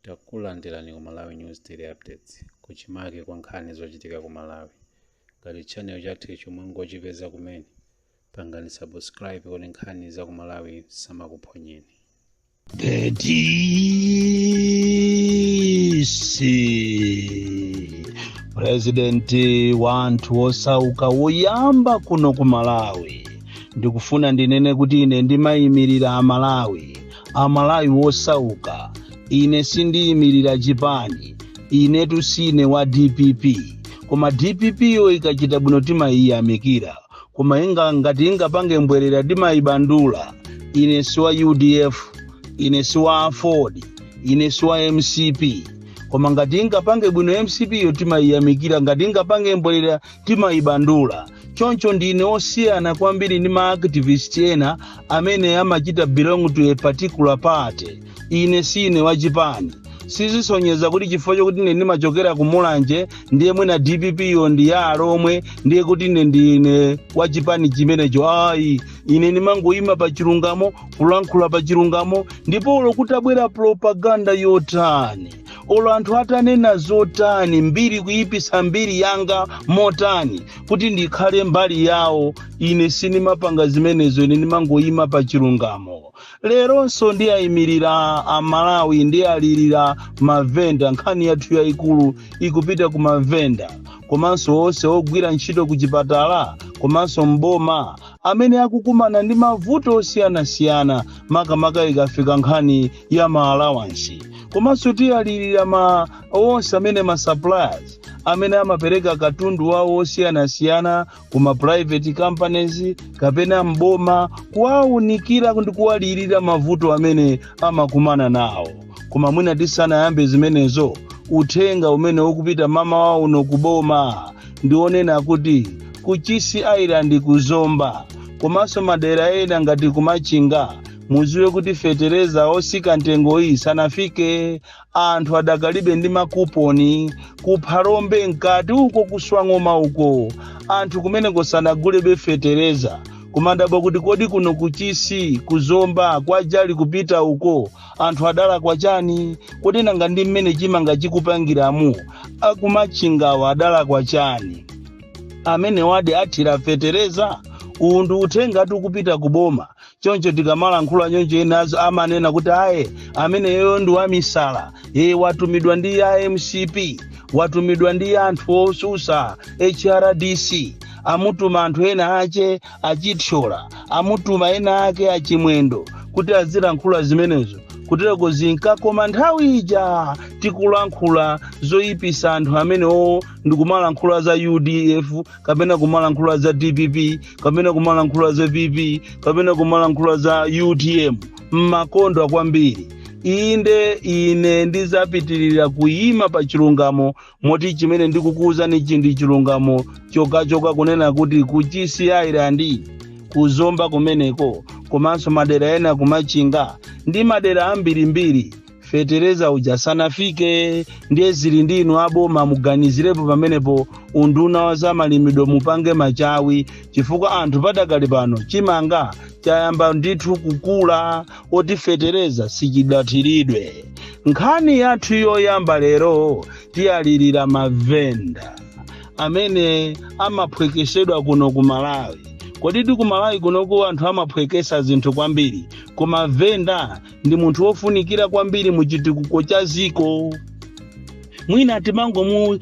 Takulandirani ku Malawi News Daily Updates, kuchimake kwa nkhani zochitika ku Malawi. Ngati channel chathu icho mwangochipeza kumene, pangani subscribe kuti nkhani za ku Malawi samakuphonyeni. The DC purezidenti wa anthu osauka woyamba kuno ku malawi ndikufuna ndinene kuti ine ndimayimirira amalawi amalawi wosauka ine sindiyimirira chipani inetu sine wa dpp koma dpp yo ikachita bwino timayiyamikira koma ngati ingapange mbwerera timayibandula ine si wa udf ine si wa aford ine si wa mcp koma ngati ingapange bwino mcp yo timayiyamikira ngati ingapange mbwerera timayibandula choncho ndine osiyana kwambiri ndi ma activist ena amene amachita belong to a particular party ine sine wachipani sizisonyeza kuti chifukwa chokuti ine ndimachokera ku mulanje ndiye mwina dpp yo ndi ya alomwe ndiye kuti ine ndine wachipani chimenecho ayi ine ndimangoyima pa chilungamo kulankhula pa chilungamo ndipo olo kutabwera propaganda yotani olo anthu atanena zotani mbiri kuyipisa mbiri yanga motani kuti ndikhale mbali yawo ine sindimapanga zimenezo ine ndimangoyima pa chilungamo leronso ndiayimirira amalawi ndialirira mavenda nkhani yathu yayikulu ikupita ku mavenda komanso onse ogwira ntchito ku chipatala komanso m'boma amene akukumana ndi mavuto osiyanasiyana makamaka ikafika nkhani ya ma allowance komanso tiyalirira ma onse amene ma suppliers amene amapereka katundu wawo osiyanasiyana ku ma private companies kapena m'boma kuwaunikira ndi kuwalirira mavuto amene amakumana nawo koma mwina tisanayambe zimenezo uthenga umene ukupita m'mamawa uno kuboma ndi onena kuti ku chisi island kuzomba komanso madera ena ngati kumachinga mudziwe kuti fetereza osika mtengo iyi sanafike anthu adakalibe ndi makuponi kuphalombe mkati uko kuswang'oma uko anthu kumeneko sanagulebe fetereza kumadabwa kuti kodi kuno kuchisi kuzomba kwajali kupita uko anthu adalakwa chani kodi nanga ndi mmene chimanga chikupangiramu akumachingawa adalakwa chani amenewadi athira fetereza uwu ndi uthengatu ukupita kuboma choncho tikamalankhula choncho enawo amanena kuti ayi ameneyo ndi wamisala e watumidwa ndi a mcp watumidwa ndi anthu otsutsa hrdc amutuma anthu ena ake achithyola amutuma ena ake achimwendo kuti azilankhula zimenezo kutereko zinkakoma nthawi ija tikulankhula zoyipisa anthu amenewo ndikumalankhula za udf kapena kumalankhula za dpp kapena kumalankhula za pp kapena kumalankhula za utm mumakondwa kwambiri inde ine ndizapitirira kuyima pa chilungamo moti chimene ndikukuwuzani ichi ndi chilungamo chokhachokha kunena kuti kuchisi island kuzomba kumeneko komanso madera ena kumachinga ndi madera ambirimbiri fetereza uja sanafike ndiye zili ndi inu aboma muganizirepo pamenepo unduna wa zamalimidwe mupange machawi chifukwa anthu padakali pano chimanga chayamba ndithu kukula koti fetereza sichidathiridwe nkhani yathu yoyamba lero tiyalirira mavenda amene amaphwekesedwa kuno ku malawi kodi ku malawi kunoko anthu amaphwekesa zinthu kwambiri koma venda ndi munthu wofunikira kwambiri mu chitukuko cha dziko mwina timangomu uh,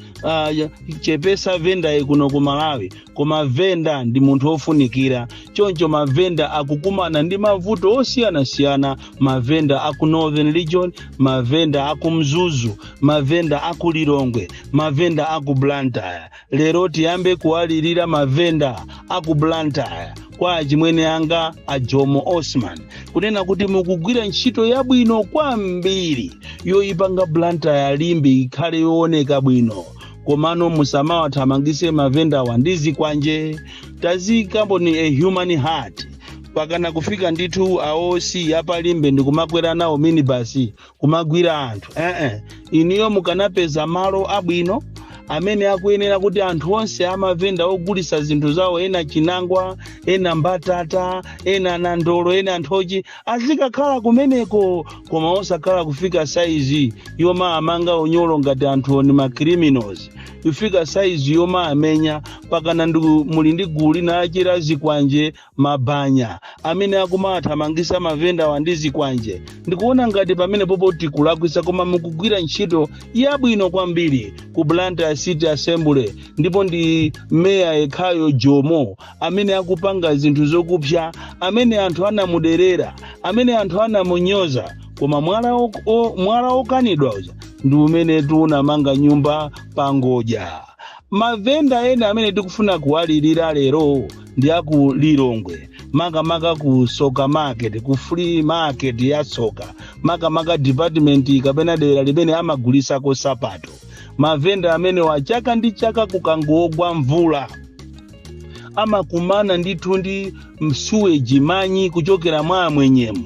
chepetsa vendayi kuno ku malawi koma venda ndi munthu wofunikira choncho mavenda akukumana ndi mavuto osiyanasiyana mavenda aku northern region mavenda aku mzuzu mavenda aku lilongwe mavenda aku blantyre lero tiyambe kuwalirira mavenda a ku blantyre kwa achimwene anga a jomo osman kunena kuti mukugwira ntchito yabwino kwambiri yoyipanga blantyre limbe ikhale yooneka bwino komano musamawathamangise mavendawa ndi zikwanje taziyikaponi a human heart pakana kufika ndithu a oc a pa limbe ndikumakwera nawo minibasi kumagwira anthu eh -eh. inuyo mukanapeza malo abwino amene akuyenera kuti anthu onse amavenda ogulisa zinthu zawo ena chinangwa ena mbatata ena nandolo ena nthochi azikakhala kumeneko koma osakhala kufika saizi yomawamanga unyolo ngati anthuwo ndi macriminals kufika saizi yomawamenya pakana muli ndi gulu lina la chela zikwanje mabanya amene akumawathamangisa mavendawa ndi zikwanje ndikuona ngati pamenepopo tikulakwisa koma mukugwira ntchito yabwino kwambiri ku blantyre city assembly ndipo ndi meya yekhayo jomo amene akupanga zinthu zakupsa amene anthu anamuderera amene anthu anamunyoza koma mwala ok- o- mwala okanidwa uja ndi umene tinamangira nyumba pangodya Mavenda ena amene tikufuna kuwalirira lero ndi a ku Lilongwe makamaka ku Soka Market ku flea market ya Soka makamaka department kapena dera limene amagulisako sapato. Mavenda amenewa chaka ndi chaka kukangogwa mvula amakumana ndithu ndi msuweji manyi kuchokera mwa amwenyemu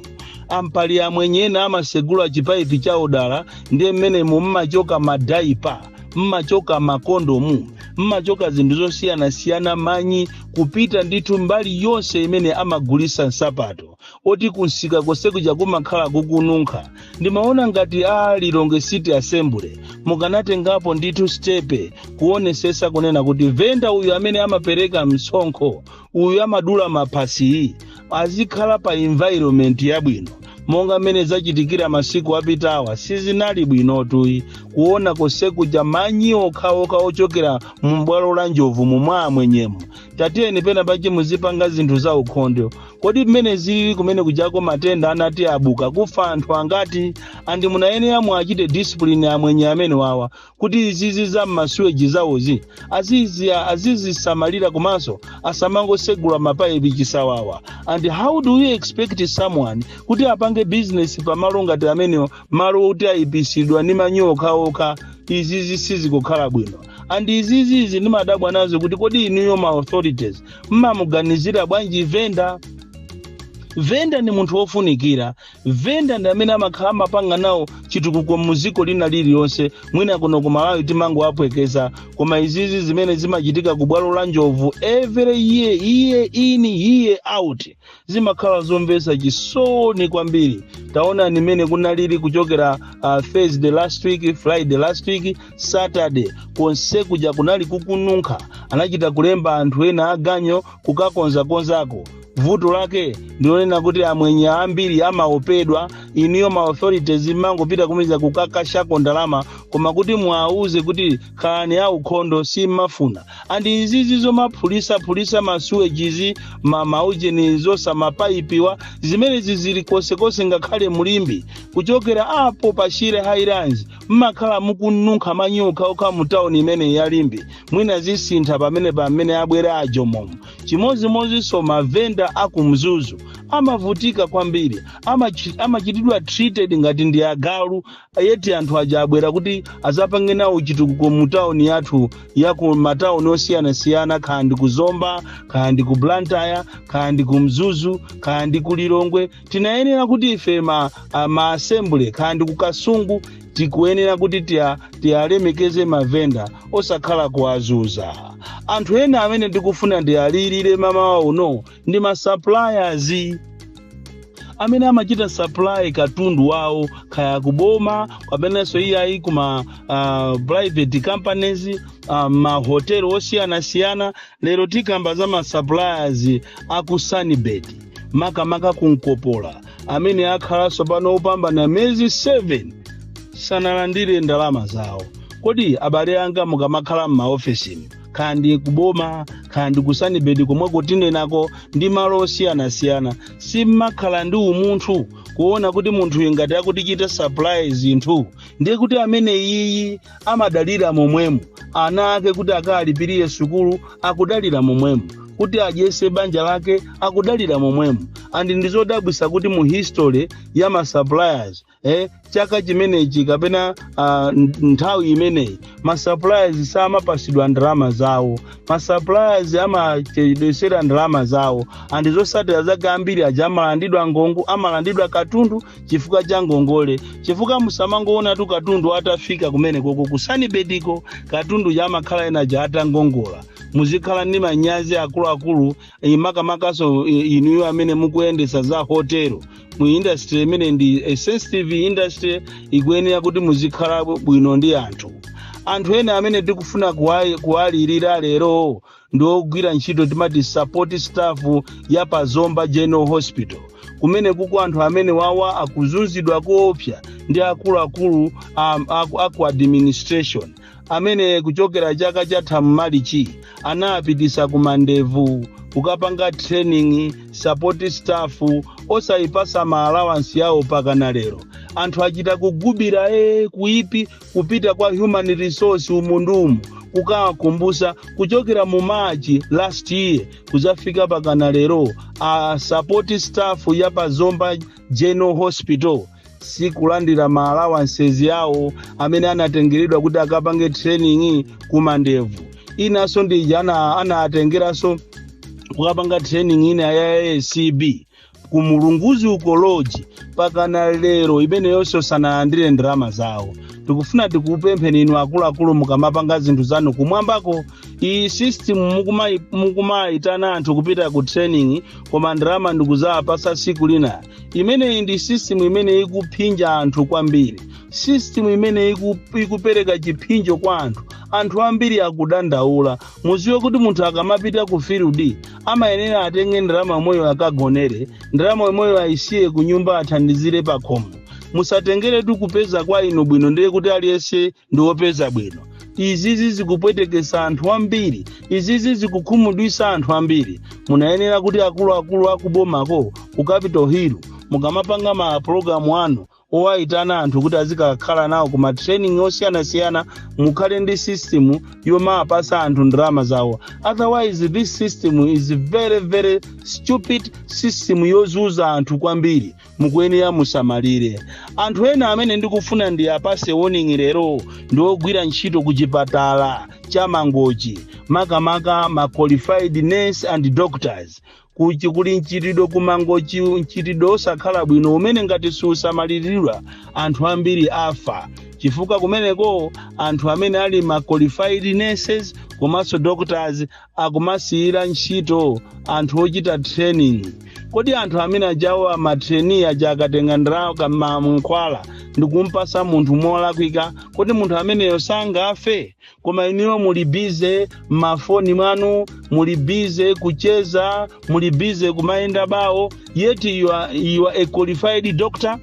ampali amwenye ena amasegula chipaipi cha odala ndiye mmenemo mmachoka madaipa mmachoka makondomu mmachoka zinthu zosiyanasiyana manyi kupita ndithu mbali yonse imene amagulisa nsapato oti kunsika konse kuja kumakhala kukununkha ndimaona ngati a lilongwe city assembly mukanatengapo ndithu stepe kuonesesa kunena kuti venda uyu amene amapereka msonkho uyu amadula maphasiyu azikhala pa environment yabwino monga mmene zachitikira masiku apitawa sizinali bwinotu ayi kuona konse kuja manyi okhaokha ochokera mu bwalo la njovu mumwa amwenyemo tatiyeni pena pache muzipanga zinthu za ukhondo kodi mmene zili kumenekujako matenda anati abuka kufa anthu angati andi munayenera muachite discipline amwenye amenewawa kuti izizi za m'masuweji zawozi azizisamalira komanso asamangosegula mapayipi chisawawa and how do you expect someone kuti apange business pamalo ngati amenewo malo oti ayipisidwa ndi manyi okhaokha izizi sizikukhala bwino and izizi izi ndimadabwa nazo kuti kodi inuyo ma authorities mmamuganizira bwanji venda venda ni munthu wofunikira venda ndi amene amakhala amapanga nawo chitukuko muziko lina liliyonse mwina kuno ku malawi timangowaphweketsa koma izizi zimene zimachitika ku bwalo la njovu every year year in year out zimakhala zomvetsa chisoni kwambiri taonani mmene kunalili kuchokera uh, thursday last week friday last week saturday konse kuja kunali kukununkha anachita kulemba anthu ena aganyo kukakonzakonzako vuto lake ndilonena kuti amwenye ambiri amaopedwa inuyo ma authorities mmangopita kumeza kukakashako ndalama koma kuti muwauze kuti khalani aukhondo simmafuna andi izizi zomaphulisa-phulisa masuwejizi mamaujeni zosa mapaipiwa zimenezi zili konsekonse ngakhale mu limbe kuchokera apo pa shire highlands mmakhala mukununkha manyi okhaokha mu tauni imeneyi ya limbe mwina zisintha pamenepa mmene abwera a jomomo chimodzimodzinso mavenda a ku mzuzu amavutika kwambiri amachitidwa treated ngati ndi agalu yeti anthu aja abwera kuti azapange nawo chitukuko mu tawuni yathu ya ku matawuni osiyanasiyana kaya ndi ku zomba kaya ndi ku blantyre kaya ndi ku mzuzu kaya ndi ku lilongwe tinayenera kuti ife ma, a, ma assembly kaya ndi ku kasungu tikuyenera kuti tiya- tiyalemekeze mavenda osakhala kuwazuza anthu ena amene ndikufuna ndiwalirire mamawa uno ndi ma suppliers amene amachita supply katundu wawo kaya kuboma kapenanso iyayi kuma uh, private companies uh, mahotelo osiyanasiyana Lero tikamba za ma suppliers a ku Sunbird makamaka ku Nkopola amene akhala tsopano kupambana miyezi 7 sanalandire ndalama zawo. Kodi abale anga mukamakhala m'maofesimu kaya ndi kuboma kaya ndi ku Sunbird komwe kutinenako ndi malo osiyanasiyana simmakhala ndi umunthu kuona kuti munthuyu ngati akutichita supply zinthu ndiye kuti ameneyi amadalira momwemo ana ake kuti akawalipirire sukulu akudalira momwemo kuti adyese banja lake akudalira momwemo and ndizodabwisa kuti mu history ya ma suppliers eh, chaka chimenechi kapena uh, nthawi imeneyi ma suppliers samapasidwa ndalama zawo ma suppliers amachedwesera ndalama zawo and zosatira zake ambiri aja amalandidwa ngongo amalandidwa katundu chifukwa cha ngongole chifukwa musamangoonatu katundu atafika kumenekoko ku Sunbird-ko katundu uja amakhala ena aja atangongola muzikhala ndi manyazi akuluakulu eh, makamakaso eh, inuyo amene mukuyendesa za hotelo mu industry imene ndi ya sensitive industry ikuyenera kuti muzikhala bwino ndi anthu anthu ena amene tikufuna kuwali- kuwalirira lero ndi ogwira ntchito timati support staff ya pa zomba general hospital kumenekuko anthu amenewawa akuzunzidwa koopsa ndi akuluakulu um, aku, aku administration amene kuchokera chaka chatha m'Malichi anaipititsa ku Mandevu kukapanga training support staff osayipasa ma allowance yawo pakana lero anthu achita kugubira e kuipi kupita kwa human resource umu ndi umo kukawakumbusa kuchokera mu March last year kuzafika pakana lero a support staff ya pa zomba general hospital sikulandira ma allowances yawo amene anatengeredwa kuti akapange training ku Mandevu inanso ndija ana- anawatengeranso kukapanga training ina ya acb ku Mulunguzi uko lodge pakana lero imeneyonso sanalandire ndalama zawo tikufuna tikupempheni inu akuluakulu mukamapanga zinthu zanu kumwambako iyi system mukumai- mukumayitana anthu kupita ku training koma ndalama ndi kuzawapasa siku lina imeneyi ndi system imene ikuphinja anthu kwambiri system imene iku, ikupereka chiphinjo kwa anthu anthu ambiri akudandaula muziwe kuti munthu akamapita ku field amayenera atenge ndalama yomweyo akagonere ndalama yomweyo ayisiye ku nyumba athandizire pa khomo musatengeretu kupeza kwa inu bwino ndiye kuti aliyense ndi wopeza bwino izizi zikupwetekesa anthu ambiri izizi zikukhumudwisa anthu ambiri munayenera kuti akuluakulu akubomako ku capital hill mukamapanga ma pulogalamu anu owayitana anthu kuti azikakhala nawo ku ma training osiyanasiyana mukhale ndi system yomapasa anthu ndalama zawo otherwise this system is very very stupid system yozuza anthu kwambiri mukuyenera musamalire anthu ena amene ndikufuna ndi apase warning lero ndi ogwira ntchito ku chipatala cha mangochi makamaka ma qualified nurse and doctors kuchi kuli mchitidwe kumangochi mchitidwe osakhala bwino umene ngati siusamaliridwa anthu ambiri afa chifukwa kumeneko anthu amene ali ma qualified nurses komanso doctors akumasiyira ntchito anthu ochita training kodi anthu amene ajawo ama trainee aja akatenga ndalama ka mankhwala ndikumpasa munthu molakwika kodi munthu ameneyo sangafe koma inuyo muli bize mmafoni mwanu muli bize kucheza muli bize kumayenda bawo yet you are, you are a qualified doctor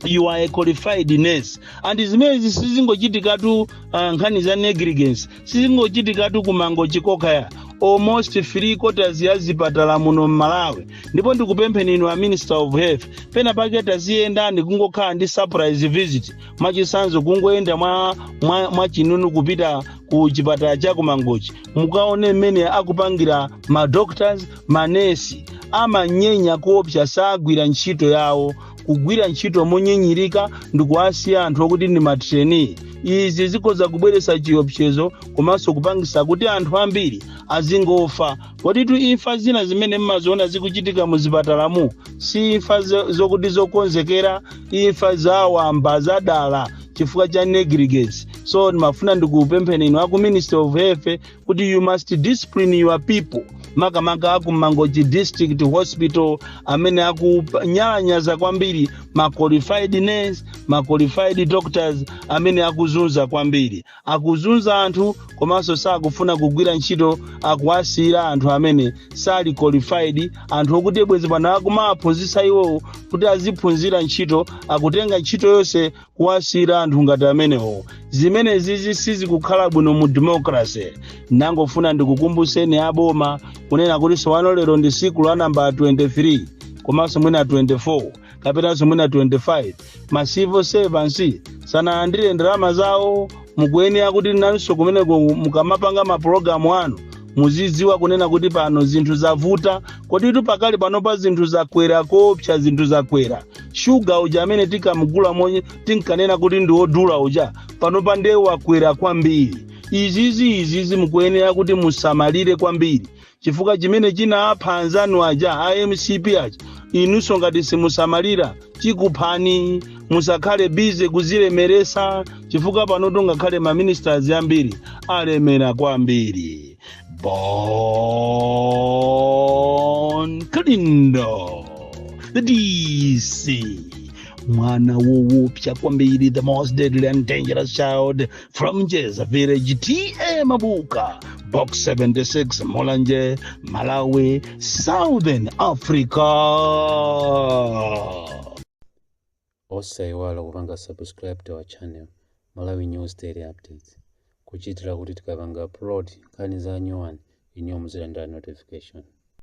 you are a qualified nurse and zimenezi sizingochitikatu uh, nkhani za negligence sizingochitikatu kumangochi kokhaya almost three quarters ya zipatala muno mmalawi ndipo ndikupempheni inu a minister of health pena pake taziyenda ndi kungokhala ndi surprise visit mwachisanzo kungoyenda mwa, mwa, mwa chinunu kupita ku chipatala cha kumangochi mukaone mmene akupangira ma doctors manesi amanyenya kuopsa sagwira ntchito yawo kugwira ntchito monyinyirika ndi kuwasiya anthu okuti ndi ma trainee izi zikhoza kubweretsa chiopsezo komanso kupangisa kuti anthu ambiri azingofa koditu imfa zina zimene mmaziona zikuchitika mu zipatalamu si imfa zo- zokuti zokonzekera imfa zawamba zadala chifukwa cha negligence so ndimafuna ndikupempheni inu aku ministry of health kuti you must discipline your people makamaka aku mangochi district hospital amene akunyalanyaza kwambiri ma qualified nurse ma qualified doctors amene akuzunza kwambiri akuzunza anthu komanso sakufuna kugwira ntchito akuwasiyira anthu amene sali qualified anthu okuti bwezi pano akumawaphunzitsa iwowo kuti aziphunzira ntchito akutenga ntchito yonse kuwasiyira anthu ngati amenewo zimenezizi sizikukhala bwino mu democracy ndangofuna ndikukumbuseni aboma kunena kuti sowano lero ndi siku la namba 23 komanso mwina 24 kapenanso mwina 25 ma civil servants sanalandire ndalama zawo mukuyenera kuti nanso kumeneko mukamapanga mapulogalamu anu muzidziwa kunena kuti pano zinthu zavuta koditu pakali panopa zinthu zakwera koopsa zinthu zakwera shuga uja amene tinkamgula monye tinkanena kuti ndi wodula uja panopa ndiye wakwera kwambiri izizi izizi mukuyenera kuti musamalire kwambiri Chifukwa chimene chinapha anzanu aja a mcp aja inunso ngati simusamalira chikuphani. Musakhale busy kuzilemeresa chifukwa panotu ngakhale ma ministers ambiri alemera kwambiri. Bon Kalindo the DC mwana woopsa kwambiri the most deadly and dangerous child from Jeza Village TA Mabuka, Box 76 Mulanje, Malawi, Southern Africa. osaiwala kupanga subscribe to our channel malawi news daily updates kuchitira kuti tikapanga upload nkhani za nyowani inuyo muzilandira notification